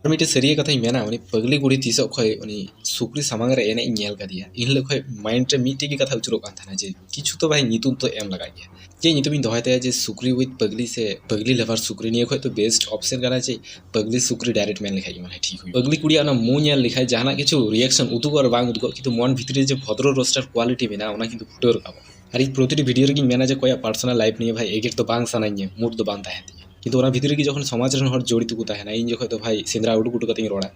ᱟᱨ ᱢᱤᱫᱴᱮᱡ ᱥᱟᱹᱨᱤᱭᱟᱹ ᱠᱟᱛᱷᱟᱧ ᱢᱮᱱᱟ ᱩᱱᱤ ᱯᱟᱹᱜᱽᱞᱤ ᱠᱩᱲᱤ ᱛᱤᱥᱚᱜ ᱠᱷᱚᱡ ᱩᱱᱤ ᱥᱩᱠᱨᱤ ᱥᱟᱢᱟᱝ ᱨᱮ ᱮᱱᱮᱡ ᱤᱧ ᱧᱮᱞ ᱠᱟᱫᱮᱭᱟ ᱤᱱ ᱦᱤᱞᱳᱜ ᱠᱷᱚᱡ ᱢᱟᱭᱤᱱᱰ ᱨᱮ ᱢᱤᱫᱴᱮᱡ ᱜᱮ ᱠᱟᱛᱷᱟ ᱟᱹᱪᱩᱨᱚᱜ ᱠᱟᱱ ᱛᱟᱦᱮᱱᱟ ᱡᱮ ᱠᱤᱪᱷᱩ ᱛᱚ ᱵᱷᱟᱭ ᱧᱩᱛᱩᱢ ᱛᱚ ᱮᱢ ᱞᱟᱜᱟᱜ ᱜᱮᱭᱟ ᱪᱮᱫ ᱧᱩᱛᱩᱢᱤᱧ ᱫᱚᱦᱚᱭ ᱛᱟᱭᱟ ᱡᱮ ᱥᱩᱠᱨᱤ ᱩᱭᱤᱛᱷ ᱯᱟᱹᱜᱽᱞᱤ ᱥᱮ ᱯᱟᱹᱜᱽᱞᱤ ᱞᱟᱵᱷᱟᱨ ᱥᱩᱠᱨᱤ ᱱᱤᱭᱟᱹ ᱠᱷᱚᱡ ᱫᱚ ᱵᱮᱥᱴ ᱚᱯᱷᱥᱮᱱ ᱠᱟᱱᱟ ᱡᱮ ᱯᱟᱹᱜᱽᱞᱤ ᱥᱩᱠᱨᱤ ᱰᱟᱭᱨᱮᱠᱴ ᱢᱮᱱ ᱞᱮᱠᱷᱟᱡ ᱜᱮ ᱢᱚᱱᱮ ᱦᱚᱭ ᱴᱷᱤᱠ ᱦᱩᱭᱩᱜᱼᱟ ᱯᱟᱹᱜᱽᱞᱤ ᱠᱩᱲᱤᱭᱟᱜ ᱚᱱᱟ ᱢᱩ ᱧᱮᱞ ᱞᱮᱠᱷᱟᱡ ᱡᱟᱦᱟᱱᱟᱜ ᱠᱤᱪᱷᱩ ᱨᱤᱭᱮᱠᱥᱚᱱ ᱩᱫᱩᱜᱚᱜ ᱟᱨ ᱵᱟᱝ ᱩᱫᱩᱜᱚᱜ ᱠᱤᱱᱛᱩ ᱢᱚᱱ ᱵᱷᱤᱛᱨᱤ ᱨᱮ ᱡᱮ ᱵᱷᱚᱫᱨᱚ ᱨᱳᱥᱴᱟᱨ ᱠᱳᱣᱟᱞᱤᱴᱤ ᱢᱮᱱᱟᱜᱼᱟ ᱚᱱᱟ ᱠᱤᱱᱛᱩ ᱯᱷᱩᱴᱟᱹᱣ ᱨᱟᱠᱟᱵᱚᱜᱼᱟ ᱟᱨ ᱤᱧ ᱯᱨᱚᱛᱤᱴᱤ ᱵᱷᱤᱰᱤᱭᱳ ᱨᱮᱜᱮᱧ ᱢᱮᱱᱟ ᱡᱮ ᱚᱠᱚᱭᱟᱜ ᱯᱟᱨᱥᱚᱱᱟᱞ ᱞᱟᱭᱤᱯᱷ ᱱᱤᱭᱮ ᱵᱷᱟᱭ ᱮᱜᱮᱨ ᱫᱚ ᱵᱟᱝ ᱥᱟᱱᱟᱧᱟ ᱢᱩᱰ ᱫᱚ ᱵᱟᱝ ᱛᱟᱦᱮᱱ ᱛᱤᱧᱟᱹ ᱠᱤᱱᱛᱩ ᱚᱱᱟ ᱵᱷᱤᱛᱨᱤ ᱨᱮᱜᱮ ᱡᱚᱠᱷᱚᱱ ᱥᱚᱢᱟᱡᱽ ᱨᱮᱱ ᱦᱚᱲ ᱡᱚᱲᱤᱛᱚ ᱠᱚ ᱛᱟᱦᱮᱱᱟ ᱤᱧ ᱡᱚᱠᱷᱚᱱ ᱫᱚ ᱵᱷᱟᱭ ᱥᱮᱸᱫᱽᱨᱟ ᱩᱰᱩᱠ ᱩᱰᱩᱠ ᱠᱟᱛᱮᱧ ᱨᱚᱲᱟ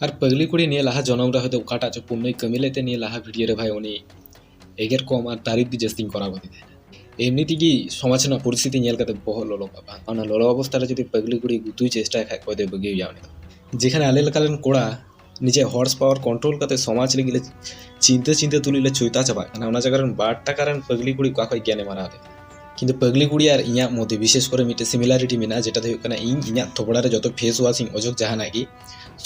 ᱟᱨ ᱯᱟᱹᱜᱽᱞᱤ ᱠᱩᱲᱤ ᱱᱤᱭᱟᱹ ᱞᱟᱦᱟ ᱡᱚᱱᱚᱢ ᱨᱮ ᱦᱚᱭᱛᱳ ᱚᱠᱟᱴᱟᱜ ᱪᱚ ᱯᱩᱱᱱᱚᱭ ᱠᱟᱹᱢᱤ ᱞᱮᱫ ᱛᱮ ᱱᱤᱭᱟᱹ ᱞᱟᱦᱟ ᱵᱷᱤᱰᱭᱳ ᱨᱮ ᱵᱷᱟᱭ ᱩᱱᱤ ᱮᱜᱮᱨ ᱠᱚᱢ ᱟᱨ ᱛᱟᱹᱨᱤᱯ ᱜᱮ ᱡᱟᱹᱥᱛᱤᱧ ᱠᱚᱨᱟᱣ ᱠᱟᱫᱮ ᱛᱟᱦᱮᱱᱟ ᱮᱢᱱᱤ ᱛᱮᱜᱮ ᱥᱚᱢᱟᱡᱽ ᱨᱮᱱᱟᱜ ᱯᱚᱨᱤᱥᱛᱷᱤᱛᱤ ᱧᱮᱞ ᱠᱟᱛᱮ ᱵᱚᱦᱚᱜ ᱞᱚᱞᱚ ᱠᱚᱜᱼᱟ ᱵᱟᱝ ᱚᱱᱟ ᱞᱚᱞᱚ ᱚᱵᱚᱥᱛᱷᱟ ᱨᱮ ᱡᱩᱫᱤ ᱯᱟᱹᱜᱽᱞᱤ ᱠᱩᱲᱤ ᱜᱩᱛᱩᱭ ᱪᱮᱥᱴᱟᱭ ᱠᱷᱟᱡ ᱚᱠᱚᱭ ᱫᱚᱭ ᱵᱟᱹᱜᱤᱭᱮᱭᱟ ᱩᱱᱤ ᱫᱚ ᱡᱮᱠᱷᱟᱱᱮ ᱟᱞᱮ ᱞᱮᱠᱟᱱ ᱠᱚᱲᱟ ᱱᱤᱡᱮ ᱦᱚᱨᱥ ᱯᱟᱣᱟᱨ ᱠᱚᱱᱴᱨᱳᱞ ᱠᱟᱛᱮ ᱥᱚᱢᱟᱡᱽ ᱞᱟᱹᱜᱤᱫ ᱞᱮ ᱪᱤᱱᱛᱟᱹ ᱪᱤᱱᱛᱟᱹ ᱛᱩᱞᱩᱡ ᱞᱮ ᱪᱩᱭᱛᱟ ᱪᱟᱵᱟᱜ ᱠᱟᱱᱟ ᱚᱱᱟ ᱡᱟᱭᱜᱟ ᱨᱮᱱ ᱵᱟᱨ ᱴᱟᱠᱟ ᱨᱮᱱ ᱯᱟᱹᱜᱽᱞᱤ ᱠᱩᱲᱤ ᱚᱠᱟ ᱠᱷᱚᱱ ᱜᱮᱭᱟᱱᱮᱢ ᱦᱟᱨᱟᱣ ᱞᱮᱫᱟ ᱠᱤᱱᱛᱩ ᱯᱟᱹᱜᱽᱞᱤ ᱠᱩᱲᱤ ᱟᱨ ᱤᱧᱟᱹᱜ ᱢᱚᱫᱽᱫᱷᱮ ᱵᱤᱥᱮᱥ ᱠᱚᱨᱮ ᱢᱤᱫᱴᱮᱱ ᱥᱤᱢᱤᱞᱟᱨᱤᱴᱤ ᱢᱮᱱᱟᱜᱼᱟ ᱡᱮᱴᱟ ᱫᱚ ᱦᱩᱭᱩᱜ ᱠᱟᱱᱟ ᱤᱧ ᱤᱧᱟᱹᱜ ᱛᱷᱚᱯᱲᱟ ᱨᱮ ᱡᱚᱛᱚ ᱯᱷᱮᱥ ᱣᱟᱥ ᱤᱧ ᱚᱡᱚᱜ ᱡᱟᱦᱟᱱᱟᱜ ᱜᱮ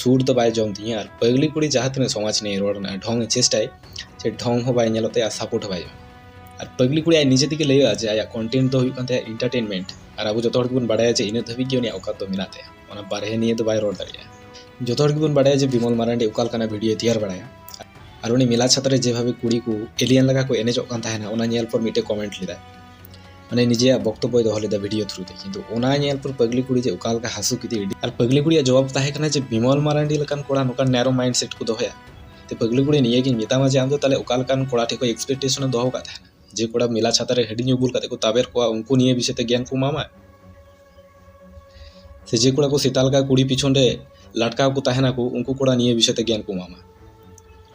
ᱥᱩᱨ ᱫᱚ ᱵᱟᱭ ᱡᱚᱢ ᱛᱤᱧᱟᱹ ᱟᱨ ᱯᱟᱹᱜᱽᱞᱤ ᱠᱩᱲᱤ ᱡᱟᱦᱟᱸ ᱛᱤᱱᱟᱹᱜ ᱥᱚᱢᱟᱡᱽ ᱱᱤᱭᱮ ᱨᱚᱲ ᱨᱮᱱᱟᱜ ᱰᱷᱚᱝ ᱪᱮᱥᱴᱟᱭ ᱥᱮ ᱰᱷᱚᱝ ᱦᱚᱸ ᱵᱟᱭ ᱧᱮᱞᱚᱜ ᱛᱟᱭᱟ ᱥᱟᱯᱳᱨᱴ ᱦᱚᱸ ᱵᱟᱭ ᱧᱟᱢᱟ ᱟᱨ ᱯᱟᱹᱜᱽᱞᱤ ᱠᱩᱲᱤ ᱟᱡ ᱱᱤᱡᱮ ᱛᱮᱜᱮ ᱞᱟᱹᱭᱟᱹᱜᱼᱟ ᱡᱮ ᱟᱭᱟᱜ ᱠᱚᱱᱴᱮᱱᱴ ᱫᱚ ᱦᱩᱭᱩᱜ ᱠᱟᱱ ᱛᱟᱭᱟ ᱤᱱᱴᱟᱨᱴᱮᱱᱢᱮᱱᱴ ᱟᱨ ᱟᱵᱚ ᱡᱚᱛᱚ ᱦᱚᱲ ᱜᱮᱵᱚᱱ ᱵᱟᱲᱟᱭᱟ ᱡᱮ ᱤᱱᱟᱹᱜ ᱫᱷᱟᱹᱵᱤᱡ ᱜᱮ ᱩᱱᱤᱭᱟᱜ ᱚᱠᱟᱛ ᱫᱚ ᱢᱮᱱᱟᱜ ᱛᱟᱭᱟ ᱚᱱᱟ ᱵᱟᱨᱦᱮ ᱱᱤᱭᱮ ᱫᱚ ᱵᱟᱭ ᱨᱚᱲ ᱫᱟᱲᱮᱭᱟᱜᱼᱟ ᱡᱚᱛᱚ ᱦᱚᱲ ᱜᱮᱵᱚᱱ ᱵᱟᱲᱟᱭᱟ ᱡᱮ ᱵᱤᱢᱚᱞ ᱢᱟᱨᱟᱱᱰᱤ ᱚᱠᱟ ᱞᱮᱠᱟᱱᱟᱜ ᱵᱷᱤᱰᱤᱭᱳ ᱛᱮᱭᱟᱨ ᱵᱟᱲᱟᱭᱟ ᱟᱨ ᱩᱱᱤ ᱢᱮᱞᱟ ᱪᱷᱟᱛᱟ ᱨᱮ ᱡᱮᱵᱷᱟᱵᱮ ᱠᱩᱲᱤ ᱠᱚ ᱮᱞᱤᱭᱟᱱ ᱞᱮᱠᱟ ᱠᱚ ᱮᱱᱮᱡᱚᱜ ᱠᱟᱱ ᱛᱟᱦᱮᱱᱟ ᱚᱱᱟ ᱧᱮᱞ ᱯᱚᱨ ᱢᱤᱫᱴᱮᱡ ᱠᱚᱢᱮᱱᱴ ᱞᱮᱫᱟ ᱢᱟᱱᱮ ᱱᱤᱡᱮᱭᱟᱜ ᱵᱚᱠᱛᱚᱵᱚᱭ ᱫᱚᱦᱚ ᱞᱮᱫᱟ ᱵᱷᱤᱰᱤᱭᱳ ᱛᱷᱨᱩ ᱛᱮ ᱠᱤᱱᱛᱩ ᱚᱱᱟ ᱧᱮᱞ ᱯᱚᱨ ᱯᱟᱜᱽᱞᱤ ᱠᱩᱲᱤ ᱡᱮ ᱚᱠᱟ ᱞᱮᱠᱟ ᱦᱟᱹᱥᱩ ᱠᱮᱫᱮ ᱟᱨ ᱯᱟᱜᱽᱞᱤ ᱠᱩᱲᱤᱭᱟᱜ ᱡᱚᱵᱟᱵ ᱛᱟᱦᱮᱸ ᱠᱟᱱᱟ ᱡᱮ ᱵᱤᱢᱚᱞ ᱢᱟᱨᱟᱱᱰᱤ ᱞᱮᱠᱟᱱ ᱠᱚᱲᱟ ᱱᱚᱝᱠᱟᱱ ᱱᱮᱨᱚ ᱢᱟᱭᱤᱱᱰ ᱥᱮᱴ ᱠᱚ ᱫᱚᱦᱚᱭᱟ ᱛᱮ ᱯᱟᱜᱽᱞᱤ ᱠᱩᱲᱤ ᱱᱤᱭᱟᱹᱜᱤᱧ ᱢᱮᱛᱟᱢᱟ ᱡᱮ ᱟᱢ ᱫᱚ ᱛᱟᱦᱞᱮ ᱚᱠᱟ ᱞᱮᱠᱟᱱ ᱠᱚᱲᱟ ᱴᱷᱮᱡ ᱠᱷᱚᱡ ᱮᱠᱥᱯᱮᱠᱴᱮᱥᱚᱱ ᱮᱢ ᱫᱚᱦᱚ ᱠᱟᱜ ᱛᱟᱦᱮᱱᱟ ᱡᱮ ᱠᱚᱲᱟ ᱢᱮᱞᱟ ᱪᱷᱟᱛᱟ ᱨᱮ ᱦᱟᱺᱰᱤ ᱧᱩ ᱵᱩᱞ ᱠᱟᱛᱮ ᱠᱚ ᱛᱟᱵᱮᱨ ᱠᱚᱣᱟ ᱩᱱᱠᱩ ᱱᱤᱭᱟᱹ ᱵᱤᱥᱚᱭ ᱛᱮ ᱜᱮᱭᱟᱱ ᱠᱚ ᱮᱢᱟᱢᱟ ᱥᱮ ᱡᱮ ᱠᱚᱲᱟ ᱠᱚ ᱥᱮᱛᱟ ᱞᱮᱠᱟ ᱠᱩᱲᱤ ᱯᱤᱪᱷᱚᱱ ᱨᱮ ᱞᱟᱴᱠᱟᱣ ᱠᱚ ᱛᱟᱦᱮᱱᱟ ᱠᱚ ᱩᱱᱠᱩ ᱠᱚᱲᱟ ᱱᱤᱭᱟᱹ ᱵᱤᱥᱚᱭ ᱛᱮ ᱜᱮᱭᱟᱱ ᱠᱚ ᱮᱢᱟᱢᱟ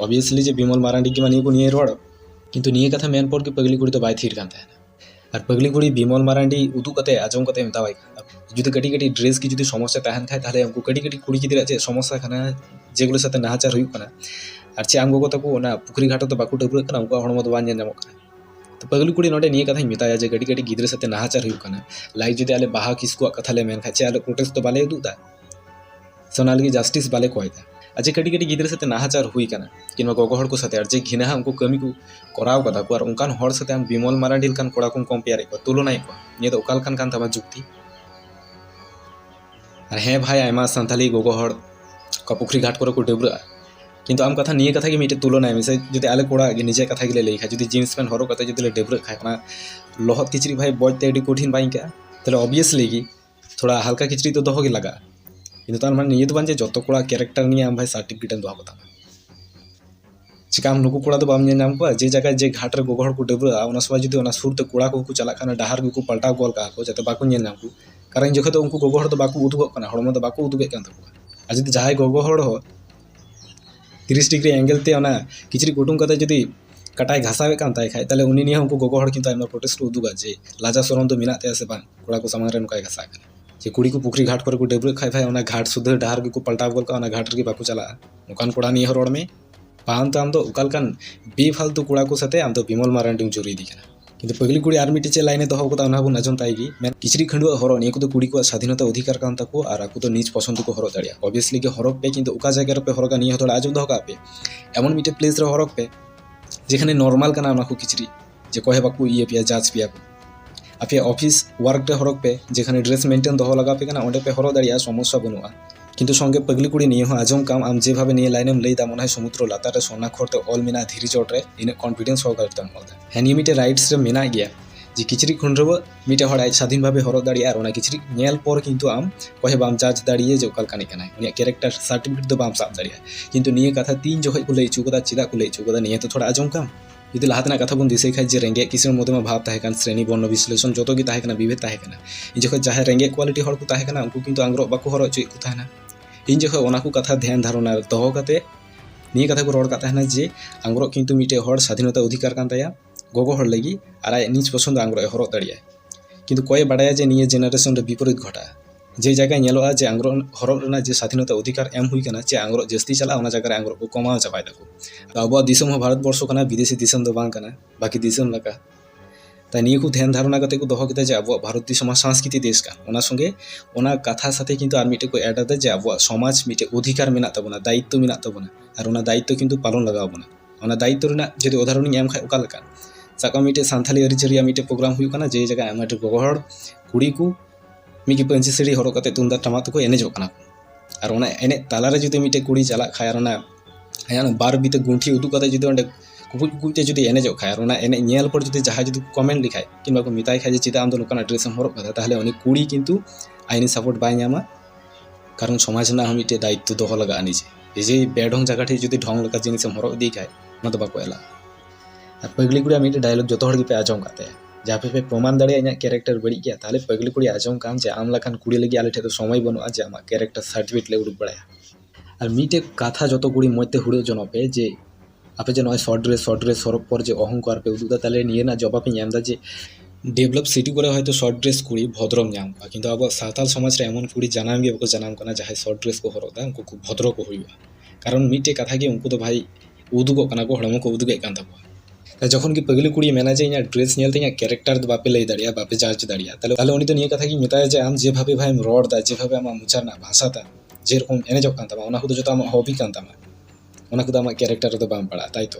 ᱳᱵᱤᱭᱮᱥᱞᱤ ᱡᱮ ᱵᱤᱢᱚᱞ ᱢᱟᱨᱟᱱᱰᱤ ᱜᱮ ᱱᱤᱭᱟᱹ ᱠᱚ ᱱᱤᱭᱟᱹᱭ ᱨᱚᱲ ᱠᱤᱱᱛᱩ ᱱᱤᱭᱟᱹ ᱠᱟᱛᱷᱟ ᱢᱮᱱ ᱯᱚᱨ ᱜᱮ ᱯᱟᱹᱜᱽᱞᱤ ᱠᱩᱲᱤ ᱫᱚ ᱵᱟᱭ ᱛᱷᱤᱨ ᱠᱟᱱ ᱛᱟᱦᱮᱱᱟ ᱟᱨ ᱯᱟᱹᱜᱽᱞᱤ ᱠᱩᱲᱤ ᱵᱤᱢᱚᱞ ᱢᱟᱨᱟᱱᱰᱤ ᱩᱫᱩᱜ ᱠᱟᱛᱮ ᱟᱸᱡᱚᱢ ᱠᱟᱛᱮ ᱢᱮᱛᱟᱣᱟᱭ ᱠᱟᱱᱟ ᱡᱩᱫᱤ ᱠᱟᱹᱴᱤᱡ ᱠᱟᱹᱴᱤᱡ ᱰᱨᱮᱥ ᱜᱮ ᱡᱩᱫᱤ ᱥᱚᱢᱚᱥᱥᱟ ᱛᱟᱦᱮᱱ ᱠᱷᱟᱡ ᱛᱟᱦᱚᱞᱮ ᱩᱱᱠᱩ ᱠᱟᱹᱴᱤᱡ ᱠᱟᱹᱴᱤᱡ ᱠᱩᱲᱤ ᱜᱤᱫᱽᱨᱟᱹ ᱟᱜ ᱪᱮᱫ ᱥᱚᱢᱚᱥᱥᱟ ᱠᱟᱱᱟ ᱡᱮᱜᱩᱞᱳ ᱥᱟᱛᱮ ᱱᱟᱦᱟᱪᱟᱨ ᱦᱩᱭᱩᱜ ᱠᱟᱱᱟ ᱟᱨ ᱪᱮᱫ ᱟᱢ ᱜᱚᱜᱚ ᱛᱟᱠᱚ ᱚᱱᱟ ᱯᱩᱠᱷᱨᱤ ᱜᱷᱟᱴ ᱨᱮᱫᱚ ᱵᱟᱠᱚ ᱰᱟᱹᱵᱽᱨᱟᱹᱜ ᱠᱟᱱᱟ ᱩᱱᱠᱩᱣᱟᱜ ᱦᱚᱲᱢᱚ ᱫᱚ ᱵᱟᱝ ᱧᱮᱞ ᱧᱟᱢᱚᱜ ᱠᱟᱱᱟ ᱛᱚ ᱯᱟᱹᱜᱽᱞᱤ ᱠᱩᱲᱤ ᱱᱚᱰᱮ ᱱᱤᱭᱟᱹ ᱠᱟᱛᱷᱟᱧ ᱢᱮᱛᱟᱭᱟ ᱡᱮ ᱠᱟᱹᱴᱤᱡ ᱠᱟᱹᱴᱤᱡ ᱜᱤᱫᱽᱨᱟᱹ ᱥᱟᱛᱮ ᱱᱟᱦᱟᱪᱟᱨ ᱦᱩᱭᱩᱜ ᱠᱟᱱᱟ ᱞᱟᱭᱤᱠ ᱡᱩᱫᱤ ᱟᱞᱮ ᱵᱟᱦᱟ ᱠᱤᱥᱠᱩ ᱟᱜ ᱠᱟᱛᱷᱟ ᱞᱮ ᱢᱮᱱ ᱠᱷᱟᱡ ᱪᱮᱫ ᱟᱞᱮ ᱯᱨᱳᱴᱮᱥᱴ ᱫᱚ ᱵᱟᱞᱮ ᱩᱫᱩᱜ ᱮᱫᱟ ᱥᱮ ᱚᱱᱟ ᱞᱟᱹᱜᱤᱫ ᱡᱟᱥᱴᱤᱥ ᱵᱟᱞᱮ ᱠᱚᱭᱫᱟ ᱟᱨ ᱡᱮ ᱠᱟᱹᱴᱤᱡ ᱠᱟᱹᱴᱤᱡ ᱜᱤᱫᱽᱨᱟᱹ ᱥᱟᱛᱮ ᱱᱟᱦᱟᱪᱟᱨ ᱦᱩᱭ ᱠᱟᱱᱟ ᱠᱤᱢᱵᱟ ᱜᱚᱜᱚ ᱦᱚᱲ ᱠᱚ ᱥᱟᱛᱮ ᱟᱨ ᱡᱮ ᱜᱷᱮᱱᱟ ᱦᱟᱸᱜ ᱩᱱᱠᱩ ᱠᱟᱹᱢᱤ ᱠᱚ ᱠᱚᱨᱟᱣ ᱠᱟᱫᱟ ᱠᱚ ᱟᱨ ᱚᱱᱠᱟᱱ ᱦᱚᱲ ᱥᱟᱛᱮ ᱟᱢ ᱵᱤᱢᱚᱞ ᱢᱟᱨᱟᱱᱰᱤ ᱞᱮᱠᱟᱱ ᱠᱚᱲᱟ ᱠᱚᱢ ᱠᱚᱢᱯᱮᱭᱟᱨᱮᱫ ᱠᱚᱣᱟ ᱛᱩᱞᱚᱱᱟᱭᱮᱫ ᱠᱚᱣᱟ ᱱᱤᱭᱟᱹ ᱫᱚ ᱚᱠᱟ ᱞᱮᱠᱟᱱ ᱠᱟᱱ ᱛᱟᱢᱟ ᱡᱩᱠᱛᱤ ᱟᱨ ᱦᱮᱸ ᱵᱷᱟᱭ ᱟᱭᱢᱟ ᱥᱟᱱᱛᱟᱞᱤ ᱜᱚᱜᱚ ᱦᱚᱲ ᱚᱠᱟ ᱯᱩᱠᱷᱨᱤ ᱜᱷᱟᱴ ᱠᱚᱨᱮ ᱠᱚ ᱰᱟᱹᱵᱽᱨᱟᱹᱜᱼᱟ ᱠᱤᱱᱛᱩ ᱟᱢ ᱠᱟᱛᱷᱟ ᱱᱤᱭᱟᱹ ᱠᱟᱛᱷᱟ ᱜᱮ ᱢᱤᱫᱴᱮᱡ ᱛᱩᱞᱚᱱᱟᱭ ᱢᱮᱥᱮ ᱡᱩᱫᱤ ᱟᱞᱮ ᱠᱚᱲᱟ ᱜᱮ ᱱᱤᱡᱮ ᱠᱟᱛᱷᱟ ᱜᱮᱞᱮ ᱞᱟᱹᱭ ᱠᱷᱟᱡ ᱡᱩᱫᱤ ᱡᱤᱱᱥ ᱯᱮᱱᱴ ᱦᱚᱨᱚᱜ ᱠᱟᱛᱮ ᱡᱩᱫᱤ ᱞᱮ ᱰᱟᱹᱵᱽᱨᱟᱹᱜ ᱠᱷᱟᱡ ᱚᱱᱟ ᱞᱚᱦᱚᱫ ᱠᱤᱪᱨᱤᱡ ᱵᱷᱟᱭ ᱵᱚᱡᱽ ᱛᱮ ᱟᱹᱰᱤ ᱠᱚᱴᱷᱤᱱ ᱵᱟᱝ ᱟᱹᱭᱠᱟᱹᱜᱼᱟ ᱛᱟᱦᱚᱞᱮ ᱚᱵᱽᱵᱷᱤᱭᱟᱥᱞᱤ ᱜᱮ ᱛᱷᱚᱲᱟ ᱦᱟᱞᱠᱟ ᱠᱤᱪᱨᱤᱡ ᱫᱚ ᱫᱚᱦᱚ ᱜᱮ ᱞᱟᱜᱟᱜᱼᱟ ᱤᱱᱟᱹ ᱛᱟᱭᱚᱢ ᱢᱟᱱᱮ ᱱᱤᱭᱟᱹ ᱫᱚ ᱵᱟᱝ ᱡᱮ ᱡᱚᱛᱚ ᱠᱚᱲᱟᱣᱟᱜ ᱠᱮᱨᱮᱠᱴᱟᱨ ᱱᱤᱭᱮ ᱟᱢ ᱵᱷᱟᱭ ᱥᱟᱨᱴᱤᱯᱷᱤᱠᱮᱴ ᱮᱢ ᱫᱚᱦᱚ ᱠᱟᱛᱟᱢ ᱠᱟᱱᱟ ᱪᱤᱠᱟᱹᱭᱟᱢ ᱱᱩᱠᱩ ᱠᱚᱲᱟ ᱫᱚ ᱵᱟᱢ ᱧᱮᱞ ᱧᱟᱢ ᱠᱚᱣᱟ ᱡᱮ ᱡᱟᱭᱜᱟ ᱡᱮ ᱜᱷᱟᱴ ᱨᱮ ᱜᱚᱜᱚ ᱦᱚᱲ ᱠᱚ ᱰᱟᱹᱵᱽᱨᱟᱹᱜᱼᱟ ᱚᱱᱟ ᱥᱚᱢᱚᱭ ᱡᱩᱫᱤ ᱚᱱᱟ ᱥᱩᱨ ᱛᱮ ᱠᱚᱲᱟ ᱠᱚᱠᱚ ᱪᱟᱞᱟᱜ ᱠᱷᱟᱱ ᱰᱟᱦᱟᱨ ᱜᱮᱠᱚ ᱯᱟᱞᱴᱟᱣ ᱜᱚᱫ ᱠᱟᱜᱼᱟ ᱠᱚ ᱡᱟᱛᱮ ᱵᱟᱠᱚ ᱧᱮᱞ ᱧᱟᱢ ᱠᱚ ᱠᱟᱨᱚᱱ ᱩᱱ ᱡᱚᱠᱷᱚᱱ ᱫᱚ ᱩᱱᱠᱩ ᱜᱚᱜᱚ ᱦᱚᱲ ᱫᱚ ᱵᱟᱠᱚ ᱩᱫᱩᱜᱚᱜ ᱠᱟᱱᱟ ᱦᱚᱲᱢᱚ ᱫᱚ ᱵᱟᱠᱚ ᱩᱫᱩᱜᱮᱫ ᱠᱟᱱ ᱛᱟᱠᱚᱣᱟ ᱟᱨ ᱡᱩᱫᱤ ᱡᱟᱦᱟᱸᱭ ᱜᱚᱜᱚ ᱦᱚᱲ ᱦᱚᱸ ᱛᱤᱨᱤᱥ ᱰᱤᱜᱽᱨᱤ ᱮᱝᱜᱮᱞ ᱛᱮ ᱚᱱᱟ ᱠᱤᱪᱨᱤᱡ ᱠᱩᱴᱩᱢ ᱠᱟᱛᱮ ᱡᱩᱫᱤ ᱠᱟᱴᱟᱭ ᱜᱷᱟᱥᱟᱣᱮᱫ ᱠᱟᱱ ᱛᱟᱭ ᱠᱷᱟᱡ ᱛᱟᱦᱚᱞᱮ ᱩᱱᱤ ᱱᱤᱭᱟᱹ ᱦᱚᱸ ᱩᱱᱠᱩ ᱜᱚᱜᱚ ᱦᱚᱲ ᱠᱤᱱᱛᱩ ᱟᱭᱢᱟ ᱯᱨᱚᱴᱮᱥᱴ ᱠᱚ ᱩᱫᱩᱜᱟ ᱡᱮ ᱞᱟᱡᱟᱣ ᱥᱚᱨᱚᱢ ᱫᱚ ᱢᱮᱱᱟᱜ ᱛᱟᱭᱟ ᱥᱮ ᱵᱟᱝ ᱠᱚᱲᱟ ᱠᱚ ᱥᱟᱢᱟᱝ ᱨᱮ ᱱᱚᱝᱠᱟᱭ ᱜᱷᱟᱥᱟᱜ ᱠᱟᱱᱟ ᱡᱮ ᱠᱩᱲᱤ ᱠᱚ ᱯᱩᱠᱷᱨᱤ ᱜᱷᱟᱴ ᱠᱚᱨᱮ ᱠᱚ ᱰᱟᱹᱵᱽᱨᱟᱹᱜ ᱠᱷᱟᱡ ᱵᱷᱟᱭ ᱚᱱᱟ ᱜᱷᱟᱴ ᱥᱩᱫᱷᱟᱹ ᱰᱟᱦᱟᱨ ᱜᱮᱠᱚ ᱯᱟᱞᱴᱟᱣ ᱜᱚᱫ ᱠᱟᱜᱼᱟ ᱚᱱᱟ ᱜᱷᱟᱴ ᱨᱮᱜᱮ ᱵᱟᱠᱚ ᱪᱟᱞᱟᱜᱼᱟ ᱚᱱᱠᱟᱱ ᱠᱚᱲᱟ ᱱᱤᱭᱟᱹ ᱦᱚᱸ ᱨᱚᱲ ᱢᱮ ᱵᱟᱝ ᱛᱮ ᱟᱢ ᱫᱚ ᱚᱠᱟ ᱞᱮᱠᱟᱱ ᱵᱮᱼᱯᱷᱟᱞᱛᱩ ᱠᱚᱲᱟ ᱠᱚ ᱥᱟᱛᱮ ᱟᱢ ᱫᱚ ᱵᱤᱢᱚᱞ ᱢᱟᱨᱟᱱᱰᱤᱢ ᱡᱩᱨᱤᱭᱮᱫᱮ ᱠᱟᱱᱟ ᱠᱤᱱᱛᱩ ᱯᱟᱹᱜᱽᱞᱤ ᱠᱩᱲᱤ ᱟᱨ ᱢᱤᱫᱴᱮᱱ ᱪᱮᱫ ᱞᱟᱭᱤᱱᱮ ᱫᱚᱦᱚ ᱟᱠᱟᱫᱟ ᱚᱱᱟ ᱦᱚᱸᱵᱚᱱ ᱟᱸᱡᱚᱢ ᱛᱟᱭ ᱜᱮ ᱠᱤᱪᱨᱤᱡ ᱠᱷᱟᱺᱰᱩᱣᱟᱹᱜ ᱦᱚᱨᱚᱜ ᱱᱤᱭᱟᱹ ᱠᱚᱫᱚ ᱠᱩᱲᱤ ᱠᱚᱣᱟᱜ ᱥᱟᱫᱷᱤᱱᱚᱛᱟ ᱚᱫᱷᱤᱠᱟᱨ ᱠᱟᱱ ᱛᱟᱠᱚᱣᱟ ᱟᱨ ᱟᱠᱚ ᱫᱚ ᱱᱤᱡᱽ ᱯᱚᱥᱚᱱᱫ ᱛᱮᱠᱚ ᱦᱚᱨᱚᱜ ᱫᱟᱲᱮᱭᱟᱜᱼᱟ ᱳᱵᱤᱭᱮᱥᱞᱤ ᱜᱮ ᱦᱚᱨᱚᱜᱽ ᱯᱮ ᱠᱤᱱᱛᱩ ᱚᱠᱟ ᱡᱟᱭᱜᱟ ᱨᱮᱯᱮ ᱦᱚᱨᱚᱜᱟ ᱱᱤᱭᱟᱹ ᱦᱚᱸ ᱛᱷᱚᱲᱟ ᱟᱸᱡᱚᱢ ᱫᱚᱦᱚ ᱠᱟᱜ ᱯᱮ ᱮᱢᱚᱱ ᱢᱤᱫᱴᱮᱱ ᱯᱞᱮᱥ ᱨᱮ ᱦᱚᱨᱚᱜᱽ ᱯᱮ ᱡᱮᱠᱷᱟᱱᱮ ᱱᱚᱨᱢᱟᱞ ᱠᱟᱱᱟ ᱚᱱᱟ ᱠᱚ ᱠᱤᱪᱨᱤᱡ ᱡᱮ ᱚᱠᱚᱭ ᱦᱚᱸ ᱵᱟᱠᱚ ᱤᱭᱟᱹ ᱯᱮᱭᱟ ᱡᱟᱡᱽ ᱯᱮᱭᱟ ᱠᱚ ᱟᱯᱮᱭᱟᱜ ᱚᱯᱷᱤᱥ ᱚᱣᱟᱨᱠ ᱨᱮ ᱦᱚᱨᱚᱜᱽ ᱯᱮ ᱡᱮᱠᱷᱟᱱᱮ ᱰᱨᱮᱥ ᱢᱮᱱᱴᱮᱱ ᱫᱚᱦᱚ ᱞᱟᱜᱟᱣ ᱯᱮ ᱠᱟᱱᱟ ᱚᱸᱰᱮ ᱯᱮ ᱦᱚᱨᱚᱜ ᱫᱟᱲᱮᱭᱟᱜᱼᱟ ᱥᱚᱢᱚᱥᱥᱟ ᱵᱟᱹᱱᱩᱜᱼᱟ ᱠᱤᱱᱛᱩ ᱥᱚᱸᱜᱮ ᱯᱟᱹᱜᱽᱞᱤ ᱠᱩᱲᱤ ᱱᱤᱭᱟᱹ ᱦᱚᱸ ᱟᱸᱡᱚᱢ ᱠᱟᱢ ᱟᱢ ᱡᱮᱵᱷᱟᱵᱮ ᱱᱤᱭᱟᱹ ᱞᱟᱭᱤᱱ ᱮᱢ ᱞᱟᱹᱭᱫᱟ ᱢᱚᱱᱮ ᱦᱚᱭ ᱥᱚᱢᱩᱫᱨᱚ ᱞᱟᱛᱟᱨ ᱨᱮ ᱥᱚᱨᱱᱟᱠᱷᱚᱨ ᱛᱮ ᱚᱞ ᱢᱮᱱᱟᱜᱼᱟ ᱫᱷᱤᱨᱤ ᱪᱚᱴ ᱨᱮ ᱤᱱᱟᱹᱜ ᱠᱚᱱᱯᱷᱤᱰᱮᱱᱥ ᱥᱚᱦᱚᱠᱟᱨ ᱛᱮᱢ ᱚᱞ ᱫᱟ ᱦᱮᱸ ᱱᱤᱭᱟᱹ ᱢᱤᱫᱴᱮᱱ ᱨᱟᱭᱤᱴᱥ ᱨᱮ ᱢᱮᱱᱟᱜ ᱜᱮᱭᱟ ᱡᱮ ᱠᱤᱪᱨᱤᱡ ᱠᱷᱩᱱᱰᱨᱟᱹᱣᱟᱹ ᱢᱤᱫᱴᱮᱱ ᱦᱚᱲ ᱟᱡ ᱥᱟᱫᱷᱤᱱ ᱵᱷᱟᱵᱮ ᱦᱚᱨᱚᱜ ᱫᱟᱲᱮᱭᱟᱜᱼᱟ ᱟᱨ ᱚᱱᱟ ᱠᱤᱪᱨᱤᱡ ᱧᱮᱞ ᱯᱚᱨ ᱠᱤᱱᱛᱩ ᱟᱢ ᱚᱠᱚᱭ ᱦᱚᱸ ᱵᱟᱢ ᱡᱟᱡᱽ ᱫᱟᱲᱮᱭᱟᱭᱟ ᱡᱮ ᱚᱠᱟ ᱞᱮᱠᱟᱱᱤᱡ ᱠᱟᱱᱟᱭ ᱩᱱᱤᱭᱟᱜ ᱠᱮᱨᱮᱠᱴᱟᱨ ᱥᱟᱨᱴᱤᱯᱷᱤᱠᱮᱴ ᱫᱚ ᱵᱟᱢ ᱥᱟᱵ ᱫᱟᱲᱮᱭᱟᱜᱼᱟ ᱠᱤᱱᱛᱩ ᱱᱤᱭᱟᱹ ᱠᱟᱛᱷᱟ ᱛᱤᱱ ᱡᱚᱠᱷᱚᱡ ᱠᱚ ᱞᱟᱹᱭ ᱦᱚᱪᱚ ᱠᱟᱫᱟ ᱪᱮᱫᱟᱜ ᱠᱚ ᱞᱟᱹᱭ ᱦᱚᱪᱚ ᱠᱟᱫᱟ ᱱᱤᱭᱟᱹ ᱛᱚ ᱛᱷᱚᱲᱟ ᱟᱸᱡᱚᱢ ᱠᱟᱢ ᱡᱩᱫᱤ ᱞᱟᱦᱟ ᱛᱮᱱᱟᱜ ᱠᱟᱛᱷᱟ ᱵᱚᱱ ᱫᱤᱥᱟᱹᱭ ᱠᱷᱟᱱ ᱡᱮ ᱨᱮᱸᱜᱮᱡ ᱠᱤᱥᱟᱹᱬ ᱢᱚᱫᱽᱫᱷᱮ ᱢᱟ ᱵᱷᱟᱵᱽ ᱛᱟᱦᱮᱸ ᱠᱟᱱ ᱥᱨᱮᱱᱤ ᱵᱚᱨᱱᱚ ᱵᱤᱥᱞᱮᱥᱚᱱ ᱡᱚᱛᱚ ᱜᱮ ᱛᱟᱦᱮᱸ ᱠᱟᱱᱟ ᱵᱤᱵᱷᱮᱫ ᱛᱟᱦᱮᱸ ᱠᱟᱱᱟ ᱤᱱ ᱡᱚᱠᱷᱚᱱ ᱡᱟᱦᱟᱸᱭ ᱨᱮᱸᱜᱮᱡ ᱠᱚᱣᱟᱞᱤᱴᱤ ᱦᱚᱲ ᱠᱚ ᱛᱟᱦᱮᱸ ᱠᱟᱱᱟ ᱩᱱᱠᱩ ᱠᱤᱱᱛᱩ ᱟᱝᱜᱽᱨᱚᱵ ᱵᱟᱠᱚ ᱦᱚᱨᱚᱜ ᱦᱚᱪᱚᱭᱮᱫ ᱠᱚ ᱛᱟᱦᱮᱱᱟ ᱤᱱ ᱡᱚᱠᱷᱚᱱ ᱚᱱᱟ ᱠᱚ ᱠᱟᱛᱷᱟ ᱫᱷᱮᱭᱟᱱ ᱫᱷᱟᱨᱚᱱᱟ ᱨᱮ ᱫᱚᱦᱚ ᱠᱟᱛᱮ ᱱᱤᱭᱟᱹ ᱠᱟᱛᱷᱟ ᱠᱚ ᱨᱚᱲ ᱠᱟᱫ ᱛᱟᱦᱮᱱᱟ ᱡᱮ ᱟᱝᱜᱽᱨᱚᱵ ᱠᱤᱱᱛᱩ ᱢᱤᱫᱴᱮᱡ ᱦᱚᱲ ᱥᱟᱫᱷᱤᱱᱚᱛᱟ ᱚᱫᱷᱤᱠᱟᱨ ᱠᱟᱱ ᱛᱟᱭᱟ ᱜᱚᱜᱚ ᱦᱚᱲ ᱞᱟᱹᱜᱤᱫ ᱟᱨ ᱟᱡ ᱱᱤᱡᱽ ᱯᱚᱪᱷᱚᱱᱫᱚ ᱟᱝᱜᱽᱨᱚᱵ ᱮ ᱦᱚᱨᱚᱜ ᱫᱟᱲᱮᱭᱟᱜᱼᱟ ᱠᱤᱱᱛᱩ ᱚᱠᱚᱭᱮ ᱵᱟᱰᱟᱭᱟ ᱡᱮ ᱱᱤᱭᱟᱹ ᱡᱮᱱᱟᱨᱮᱥᱚᱱ ᱨᱮ ᱵᱤᱯᱚᱨᱤᱛ ᱜᱷᱚᱴᱟᱜᱼᱟ ᱡᱮ ᱡᱟᱭᱜᱟ ᱧᱮᱞᱚᱜᱼᱟ ᱡᱮ ᱟᱝᱨᱚᱵ ᱦᱚᱨᱚᱜ ᱨᱮᱱᱟᱜ ᱡᱮ ᱥᱟᱫᱷᱤᱱᱚᱛᱟ ᱚᱫᱷᱤᱠᱟᱨ ᱮᱢ ᱦᱩᱭ ᱠᱟᱱᱟ ᱪᱮ ᱟᱝᱨᱚᱵ ᱡᱟᱹᱥᱛᱤ ᱪᱟᱞᱟᱜᱼᱟ ᱚᱱᱟ ᱡᱟᱭᱜᱟ ᱨᱮ ᱟᱝᱨᱚᱵ ᱠᱚ ᱠᱚᱢᱟᱣ ᱪᱟᱵᱟᱭ ᱫᱟᱠᱚ ᱟᱵᱚᱣᱟᱜ ᱫᱤᱥᱚᱢ ᱦᱚᱸ ᱵᱷᱟᱨᱚᱛ ᱵᱚᱨᱥᱚ ᱠᱟᱱᱟ ᱵᱤᱫᱮᱥᱤ ᱫᱤᱥᱚᱢ ᱫᱚ ᱵᱟᱝ ᱠᱟᱱᱟ ᱵᱟᱹᱠᱤ ᱫᱤᱥᱚᱢ ᱞᱮᱠᱟ ᱛᱟᱭ ᱱᱤᱭᱟᱹ ᱠᱚ ᱫᱷᱮᱭᱟᱱ ᱫᱷᱟᱨᱚᱱᱟ ᱠᱟᱛᱮ ᱠᱚ ᱫᱚᱦᱚ ᱠᱮᱫᱟ ᱡᱮ ᱟᱵᱚᱣᱟᱜ ᱵᱷᱟᱨᱚᱛ ᱫᱤᱥᱚᱢ ᱦᱚᱸ ᱥᱟᱝᱥᱠᱨᱤᱛᱤᱠ ᱫᱮᱥ ᱠᱟᱱᱟ ᱚᱱᱟ ᱥᱚᱸᱜᱮ ᱚᱱᱟ ᱠᱟᱛᱷᱟ ᱥᱟᱛᱮ ᱠᱤᱱᱛᱩ ᱟᱨ ᱢᱤᱫᱴᱮᱱ ᱠᱚ ᱮᱰ ᱟᱫᱟ ᱡᱮ ᱟᱵᱚᱣᱟᱜ ᱥᱚᱢᱟᱡᱽ ᱢᱤᱫᱴᱮᱱ ᱚᱫᱷᱤᱠᱟᱨ ᱢᱮᱱᱟᱜ ᱛᱟᱵᱚᱱᱟ ᱫᱟᱭᱤᱛᱛᱚ ᱢᱮᱱᱟᱜ ᱛᱟᱵᱚᱱᱟ ᱟᱨ ᱚᱱᱟ ᱫᱟᱭᱤᱛᱛᱚ ᱠᱤᱱᱛᱩ ᱯᱟᱞᱚᱱ ᱞᱟᱜᱟᱣ ᱵᱚᱱᱟ ᱚᱱᱟ ᱫᱟᱭᱤᱛᱛᱚ ᱨᱮᱱᱟᱜ ᱡᱩᱫᱤ ᱩᱫᱟᱦᱚᱨᱚᱱᱤᱧ ᱮᱢ ᱠᱷᱟᱱ ᱚᱠᱟ ᱞᱮᱠᱟ ᱥᱟᱵ ᱠᱟᱜ ᱢᱮ ᱢᱤᱫᱴᱮᱱ ᱥᱟᱱᱛᱷᱟᱞᱤ ᱟᱹᱨᱤᱪᱟᱹᱞᱤ ᱨᱮᱭᱟᱜ ᱢᱤᱫᱴᱮᱱ ᱯᱨᱳᱜᱨᱟᱢ ᱦᱩᱭᱩᱜ ᱠᱟᱱᱟ ᱡᱮ ᱡᱟᱭᱜᱟ ᱨᱮ ᱟᱭᱢᱟ ᱰᱷᱮᱨ ᱜᱚᱜᱚ ᱦᱚᱲ ᱠᱩᱲᱤ ᱠᱚ ᱢᱤᱫ ᱜᱮ ᱯᱟᱹᱧᱪᱤ ᱥᱟᱹᱲᱤ ᱦᱚᱨᱚᱜ ᱠᱟᱛᱮ ᱛᱩᱢᱫᱟᱜ ᱴᱟᱢᱟᱠ ᱛᱮᱠᱚ ᱮᱱᱮᱡᱚᱜ ᱠᱟᱱᱟ ᱟᱨ ᱚᱱᱟ ᱮᱱᱮᱡ ᱛᱟᱞᱟᱨᱮ ᱡᱩᱫᱤ ᱢᱤᱫᱴᱮᱡ ᱠᱩᱲᱤ ᱪᱟᱞᱟᱜ ᱠᱷᱟᱡ ᱟᱨ ᱚᱱᱟ ᱟᱭᱟᱜ ᱵᱟᱨ ᱵᱤᱛᱟᱹ ᱜᱩᱱᱴᱷᱤ ᱩᱫᱩᱜ ᱠᱟᱛᱮ ᱡᱩᱫᱤ ᱚᱸᱰᱮ ᱠᱩᱠᱩᱡ ᱠᱩᱠᱩᱡ ᱛᱮ ᱡᱩᱫᱤ ᱮᱱᱮᱡᱚᱜ ᱠᱷᱟᱡ ᱟᱨ ᱚᱱᱟ ᱮᱱᱮᱡ ᱧᱮᱞ ᱯᱚᱨ ᱡᱩᱫᱤ ᱡᱟᱦᱟᱸᱭ ᱡᱩᱫᱤ ᱠᱚᱢᱮᱱᱴ ᱞᱮᱠᱷᱟᱡ ᱠᱤᱝᱵᱟ ᱠᱚ ᱢᱮᱛᱟᱭ ᱠᱷᱟᱡ ᱡᱮ ᱪᱮᱫᱟᱜ ᱟᱢ ᱫᱚ ᱱᱚᱝᱠᱟᱱᱟᱜ ᱰᱨᱮᱥ ᱮᱢ ᱦᱚᱨᱚᱜ ᱠᱟᱫᱟ ᱛᱟᱦᱞᱮ ᱩᱱᱤ ᱠᱩᱲᱤ ᱠᱤᱱᱛᱩ ᱟᱭᱤᱱᱤ ᱥᱟᱯᱳᱨᱴ ᱵᱟᱭ ᱧᱟᱢᱟ ᱠᱟᱨᱚᱱ ᱥᱚᱢᱟᱡᱽ ᱨᱮᱱᱟᱜ ᱦᱚᱸ ᱢᱤᱫᱴᱮᱡ ᱫᱟᱭᱤᱛᱛᱚ ᱫᱚᱦᱚ ᱞᱟᱜᱟᱜᱼᱟ ᱱᱤᱡᱮ ᱡᱮ ᱵᱮᱰᱷᱚᱝ ᱡᱟᱭᱜᱟ ᱴᱷᱮᱡ ᱡᱩᱫᱤ ᱰᱷᱚᱝ ᱞᱮᱠᱟ ᱡᱤᱱᱤᱥᱮᱢ ᱦᱚᱨᱚᱜ ᱤᱫᱤᱭ ᱠᱷᱟᱡ ᱚᱱᱟ ᱫᱚ ᱵᱟᱠᱚ ᱮᱞᱟᱣᱟ ᱟᱨ ᱯᱟᱹᱜᱽᱞᱤ ᱠᱩᱲᱤᱭᱟᱜ ᱢᱤᱫᱴᱮᱱ ᱰᱟᱭᱞᱚᱜᱽ ᱡᱚᱛᱚ ᱦᱚᱲ ᱜᱮᱯᱮ ᱟᱸᱡᱚᱢ ᱟᱠᱟᱫ ᱛᱟᱭᱟ ᱡᱮ ᱟᱯᱮ ᱯᱮ ᱯᱨᱚᱢᱟᱱ ᱫᱟᱲᱮᱭᱟᱜᱼᱟ ᱤᱧᱟᱹᱜ ᱠᱮᱨᱮᱠᱴᱟᱨ ᱵᱟᱹᱲᱤᱡ ᱜᱮᱭᱟ ᱛᱟᱦᱚᱞᱮ ᱯᱟᱹᱜᱽᱞᱤ ᱠᱩᱲᱤ ᱟᱸᱡᱚᱢ ᱠᱟᱜᱼᱟᱢ ᱡᱮ ᱟᱢ ᱞᱮᱠᱟᱱ ᱠᱩᱲᱤ ᱞᱟᱹᱜᱤᱫ ᱟᱞᱮ ᱴᱷᱮᱱ ᱫᱚ ᱥᱚᱢᱚᱭ ᱵᱟᱹᱱᱩᱜᱼᱟ ᱡᱮ ᱟᱢᱟᱜ ᱠᱮᱨᱮᱠᱴᱟᱨ ᱥᱟᱨᱴᱤᱯᱷᱤᱠᱮᱴ ᱞᱮ ᱩᱰᱩᱠ ᱵᱟᱲᱟᱭᱟ ᱟᱨ ᱢᱤᱫᱴᱮᱱ ᱠᱟᱛᱷᱟ ᱡᱚᱛᱚ ᱠᱩᱲᱤ ᱢᱚᱡᱽ ᱛᱮ ᱦᱩᱲᱟᱹᱜ ᱡᱚᱱᱚᱜ ᱯᱮ ᱡᱮ ᱟᱯᱮ ᱡᱮ ᱱᱚᱜᱼᱚᱭ ᱥᱚᱨᱴ ᱰᱨᱮᱥ ᱥᱚᱨᱴ ᱰᱨᱮᱥ ᱦᱚᱨᱚᱜ ᱯᱚᱨ ᱡᱮ ᱚᱦᱚᱝᱠᱟᱨ ᱯᱮ ᱩᱫᱩᱜ ᱮᱫᱟ ᱛᱟᱦᱚᱞᱮ ᱱᱤᱭᱟᱹ ᱨᱮᱱᱟᱜ ᱡᱚᱵᱟᱵᱽ ᱤᱧ ᱮᱢ ᱮᱫᱟ ᱡᱮ ᱰᱮᱵᱷᱞᱚᱯ ᱥᱤᱴᱤ ᱠᱚᱨᱮ ᱦᱚᱭᱛᱳ ᱥᱚᱨᱴ ᱰᱨᱮᱥ ᱠᱩᱲᱤ ᱵᱷᱚᱫᱨᱚᱢ ᱧᱟᱢ ᱠᱚᱣᱟ ᱠᱤᱱᱛᱩ ᱟᱵᱚᱣᱟᱜ ᱥᱟᱱᱛᱟᱲ ᱥᱚᱢᱟᱡᱽ ᱨᱮ ᱮᱢᱚᱱ ᱠᱩᱲᱤ ᱡᱟᱱᱟᱢ ᱜᱮ ᱵᱟᱠᱚ ᱡᱟᱱᱟᱢ ᱠᱟᱱᱟ ᱡᱟᱦᱟᱸᱭ ᱥᱚᱨᱴ ᱰᱨᱮᱥ ᱠᱚ ᱦᱚᱨᱚᱜ ᱮᱫᱟ ᱩᱱᱠᱩ ᱠᱚ ᱵᱷᱚᱫᱨᱚ ᱠᱚ ᱦᱩᱭᱩᱜᱼᱟ ᱠᱟᱨᱚᱱ ᱢᱤᱫᱴᱮᱱ ᱠᱟᱛᱷᱟ ᱜᱮ ᱩᱱᱠᱩ ᱫᱚ ᱵᱷᱟᱭ ᱩᱫᱩᱜᱚᱜ ᱠᱟᱱᱟ ᱠᱚ ᱦᱚᱲᱢᱚ ᱠᱚ ᱩᱫᱩᱜᱮᱫ ᱠᱟᱱ ᱛᱟᱠᱚᱣᱟ ᱟᱨ ᱡᱚᱠᱷᱚᱱ ᱜᱮ ᱯᱟᱹᱜᱽᱞᱤ ᱠᱩᱲᱤᱭ ᱢᱮᱱᱟ ᱡᱮ ᱤᱧᱟᱹᱜ ᱰᱨᱮᱥ ᱧᱮᱞᱛᱮ ᱤᱧᱟᱹᱜ ᱠᱮᱨᱮᱠᱴᱟᱨ ᱫᱚ ᱵᱟᱯᱮ ᱞᱟᱹᱭ ᱫᱟᱲᱮᱭᱟᱜᱼᱟ ᱵᱟᱯᱮ ᱡᱟᱡᱽ ᱫᱟᱲᱮᱭᱟᱜᱼᱟ ᱛᱟᱦᱚᱞᱮ ᱩᱱᱤ ᱫᱚ ᱱᱤᱭᱟᱹ ᱠᱟᱛᱷᱟ ᱜᱤᱧ ᱢᱮᱛᱟᱭᱟ ᱡᱮ ᱟᱢ ᱡᱮ ᱵᱷᱟᱵᱮ ᱵᱷᱟᱭᱮᱢ ᱨᱚᱲᱫᱟ ᱡᱮ ᱵᱷᱟᱵᱮ ᱟᱢᱟᱜ ᱢᱚᱪᱟ ᱨᱮᱱᱟᱜ ᱵᱷᱟᱥᱟ ᱛᱟᱢ ᱡᱮ ᱨᱚᱠᱚᱢ ᱮᱱᱮᱡᱚᱜ ᱠᱟᱱ ᱛᱟᱢᱟ ᱚᱱᱟ ᱠᱚᱫᱚ ᱡᱚᱛᱚ ᱟᱢᱟᱜ ᱦᱚᱵᱤ ᱠᱟᱱ ᱛᱟᱢᱟ ᱚᱱᱟ ᱠᱚᱫᱚ ᱟᱢᱟᱜ ᱠᱮᱨᱮᱠᱴᱟᱨ ᱨᱮᱫᱚ ᱵᱟᱝ ᱯᱟᱲᱟᱜᱼᱟ ᱛᱟᱭᱛᱚ